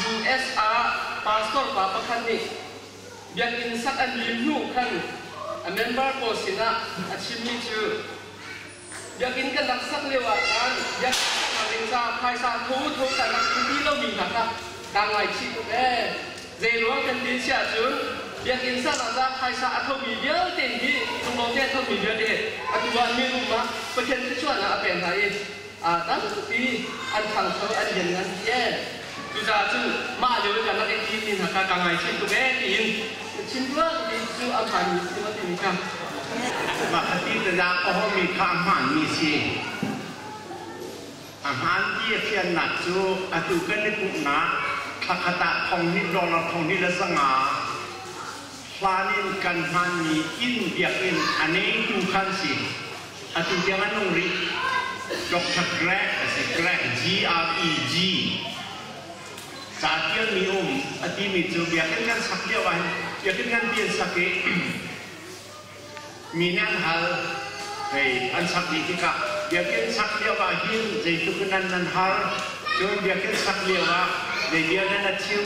US ah pastor pa pakhat nih biakinn sak an lim hnu khan a member pawl sinah a chimmi cu biakinn kan rak sak lio ah cun biakinn saknak ding caah phaisa thotho can rak thlu ti lomi hna kha kaa ngaichih tuk ee. Zeiruang kan ti chiah cun biakinn saknak caah phaisa a thomi vialte hi kum awte a thomi vialte atu ah min um ah Pathian thluachuah ah a pek hna i aa tampi an thangcho an lianngan ti ee. Cucaah cun mah lio i kan rak i timi hna kha kaa ngaithiam tuk ee tiin chim tuah ti cu a phanmi si maw timi kha. Vahatidanak a hawmi kha a hmaanmi si. A hmaan ti a fiannak cu atu kan i pumhnak thla khat ah thong hnih dollar thong hnih le zanga hlan in kan hmaanmi inn biakinn a ngeitu kha an si. Atu tiang a nung rih. Dr. Greg a si. Greg, G-R-E-G. Ca tialmi a um a timi cu biakinn kan sak lio ah biakinn nganpi an sak i mi nih an hal hei an sak dih tikah biakinn sak lio ahhin zeitluk in an nan hal cun biakinn sak lio ah zei bia nan a chim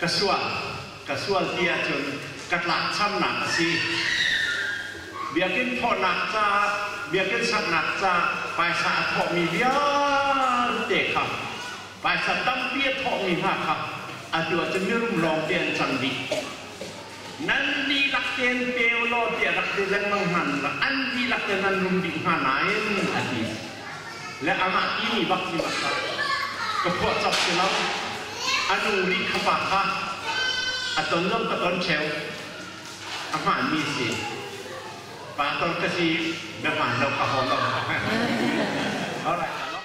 Ka sual, ka sual ti ahcun ka tlakchamnak a si. Biakinn thawhnak caah, biakinn saknak caah paisa a thawhmi vialte kha, paisa tampi a thawhmi hna kha atu ahcun mirum lawngte an cang dih. Nan dihlak tein pe u law tiah rak ti lengmang hna nulak an dihlak tein an rum dih hnga nain a ti le amah ti mi bak hi mah tah ka phuahcawk si lo, a nu rih ka pa kha a ton lo ka ton cheu a hmaan mi si pa ton ka si na hmaan lo ka haw lo. Alright.